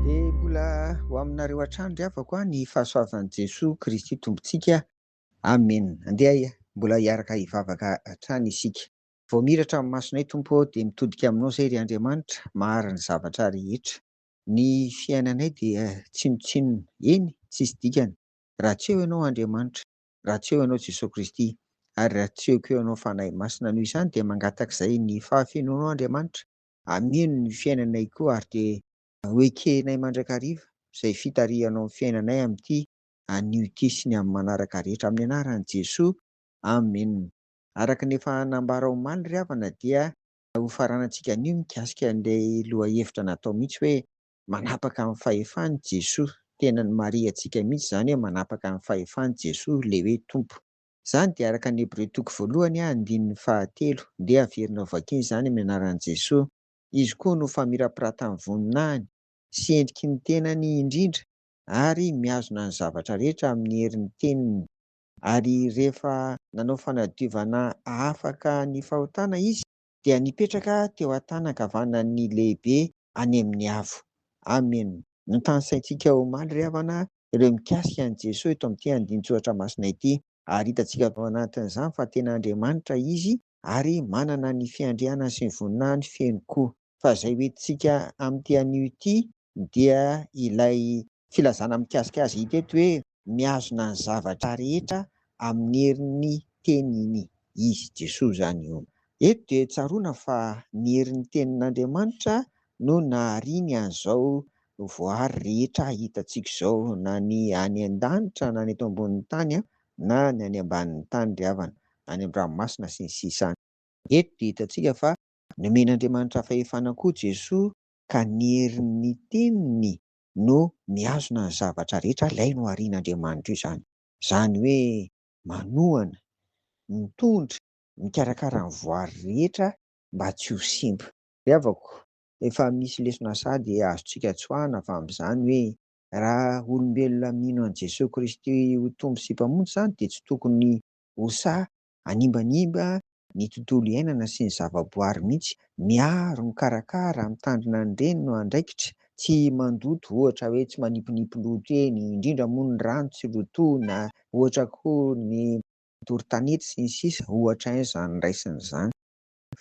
Dia mbola ho aminareo hatrany ry havako an, ny fahasoavan'i Jesoa Kristy Tompontsika. Amen. Andeha mbola hiaraka hivavaka hatrany isika. Vao miratra amin'ny masonay Tompo ô, dia mitodika Aminao izay ry Andriamanitra, mahary ny zavatra rehetra. Ny fiainanay dia tsinontsinona, eny, tsisy dikany, raha tsy eo Ianao Andriamanitra. raha tsy eo ianao Jesoa Kristy ary raha tsy eo koa ianao Fanahy Masina noho izany dia mangatak'izay ny fahafenoanao Andriamanitra hameno ny fiainanay koa ary dia ho ekenay mandrakariva izay fitarihanao ny fiainanay amin'ity anio ity sy ny amin'ny manaraka rehetra amin'ny anaran'i Jesoa Amen Araka ny efa nambara omaly ry havana dia hofaranantsika anio mikasika an'ilay lohahevitra natao mihitsy hoe Manapaka amin'ny fahefany Jesoa. Tena ny marihantsika mihitsy izany hoe manapaka amin'ny fahefany Jesoa, ilay hoe Tompo. Izany dia araka ny Hebreo toko voalohany a, andininy fahatelo. Ndeha averina ho vakiana izany amin'ny anaran'i Jesoa. Izy koa no famirapiratan'ny voninahiny sy endriky ny tenany indrindra ary mihazona ny zavatra rehetra amin'ny herin'ny teniny. Ary rehefa nanao fanadiovana hahafaka ny fahotana Izy, dia nipetraka teo an-tàna ankavanan'ny lehibe any amin'ny avo. Amen. Notanisaintsika omaly ry havana ireo mikasika an'i Jesoa eto amin'ity andinin-tsoratra masina ity, ary hitantsika avy ao anatin'izany fa tena Andriamanitra Izy ary manana ny fiandrianany sy ny voninahiny feno koa. Fa izay hoentintsika amin'ity anio ity dia ilay Filazana mikasika azy hita eto hoe mihazona ny zavatra rehetra amin'ny herin'ny teniny izy, Jesoa izany io. Eto dia tsaroana fa ny herin'ny tenin'Andriamanitra no nahariany an'izao voaary rehetra hitantsika izao, na ny any an-danitra, na ny eto ambonin'ny tany, na ny any ambanin'ny tany ry havana, na ny an-dranomasina sy ny sisa. Eto dia hitantsika fa nomen'Andriamanitra fahefana koa Jesoa ka ny herin'ny teniny no mihazona ny zavatra rehetra alaino aorian' Andriamanitra io izany. Izany hoe manohana, mitondra, mikarakara ny voary rehetra mba tsy ho simba. Ry havako, efa misy lesona sady azontsika tsoahina avy amin' izany hoe raha olombelona mino an'i Jesoa Kristy ho Tompo sy Mpamonjy izany dia tsy tokony ho sahy Hanimbanimba ny tontolo iainana sy ny zavaboary mihitsy. Miaro, mikarakara, mitandrina ny reny no andraikitra. Tsy mandoto, ohatra hoe tsy manipinipy loto eny, indrindra moa ny rano tsy lotoina, ohatra koa ny matory tanety sy ny sisa, ohatra izany raisina izany.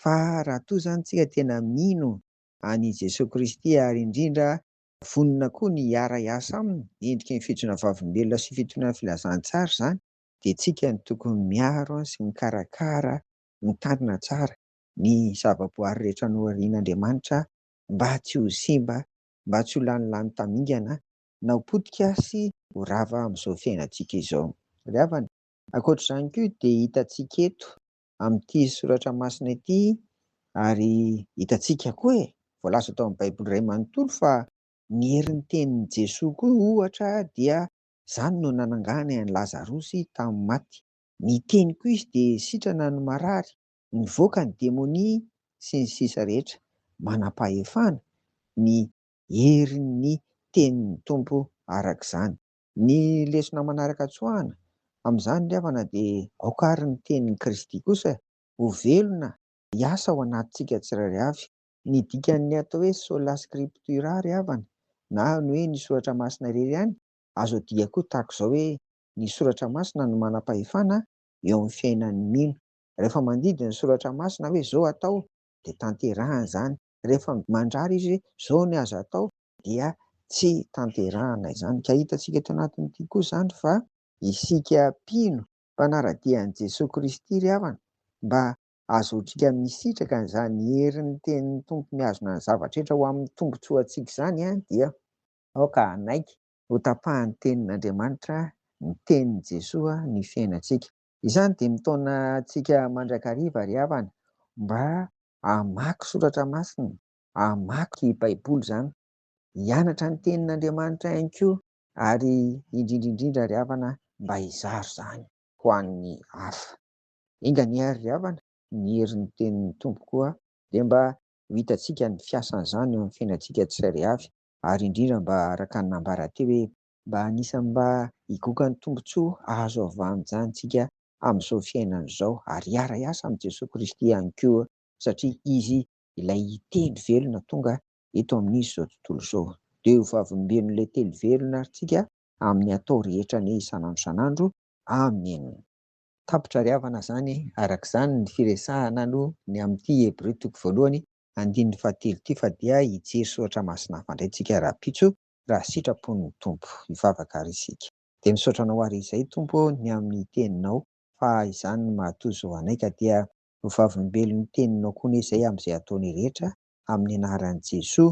Fa raha toa izany isika tena mino an'i Jesoa Kristy ary indrindra vonona koa ny hiara-hiasa Aminy, endriky ny fijona vavolombelona sy fitonian'ny filazantsara izany, dia isika no tokony miaro sy mikarakara, mitandrina tsara ny zavaboary rehetra noharian'Andriamanitra mba tsy ho simba, mba tsy ho lany lany tamingana na ho potika sy ho rava amin'izao fiainantsika izao. Ry havana, ankoatra izany koa dia hitantsika eto amin'ity soratra masina ity ary hitantsika koa e! voalaza tao amin'ny Baiboly iray manontolo fa ny herin'ny tenin'i Jesoa koa ohatra dia Izany no nananganay an'i Lazarosy tamin'ny maty. Ny teniko izy dia sitrana ny marary, nivoaka ny demonia sy ny sisa rehetra. Manam-pahefana ny herin'ny tenin'ny Tompo araka izany. Ny lesona manaraka tsoahina amin'izany ry havana dia aoka ary ny tenin'i Kristy kosa ho velona hiasa ao anatintsika tsirairay avy Ny dikan'ny atao hoe sola scriptura ry havana, na ny hoe ny soratra masina irery ihany, azo adika koa tahaka izao hoe ny soratra masina no manam-pahefana eo amin'ny fiainan'ny mino. Rehefa mandidy ny soratra masina hoe izao atao dia tanterahina izany, rehefa mandrara izy hoe izao ny azo atao dia tsy tanterahina izany. Ka hitantsika eto anatin'ity koa izany fa isika mpino mpanara-dia an'i Jesoa Kristy ry havana mba Azaontsika misitraka an'izany herin'ny tenin'ny Tompo mihazona ny zavatra rehetra ho amin'ny tombontsoantsika izany dia aoka hanaiky ho tapahan'ny Tenin'Andriamanitra, ny Tenin'i Jesoa, ny fiainantsika. Izany dia mitaona antsika mandrakariva ry havana mba hamaky soratra masina, hamaky Baiboly izany, hianatra ny Tenin'Andriamanitra ihany koa ary indrindra indrindra ry havana mba hizara izany ho an'ny hafa. Enga anie ary ry havana, ny herin'ny tenin'ny Tompo koa dia mba ho hitantsika ny fiasan'izany eo amin'ny fiainantsika tsirairay avy, ary indrindra mba araka ny nambara teo hoe, mba anisan'ny mba higoka ny tombontsoa azo avy amin'izany isika amin'izao fiainana izao, ary hiara-hiasa amin'i Jesoa Kristy ihany koa, satria Izy ilay Teny velona tonga eto amin'izy izao tontolo izao. Dia ho vavolombelon'ilay Teny velona ary tsika amin'ny atao rehetra anie isan'andro isan'andro. Amen. Tapitra ry havana zany araka zany ny firesahana no ny amin ity Hebreo toko voalohany andininy fahatelo ity fa dia hijery soratra masina hafa ndray tsika rahampitso raha sitrapon ny Tompo. Hivavaka ary isika. Dia misaotra anao ary izay Tompo ô ny amin ny teninao fa izany no mahatozo ho anay ka dia ho vavolombelon ny teninao koa anie zay amin izay ataonay rehetra amin ny anaran Jesoa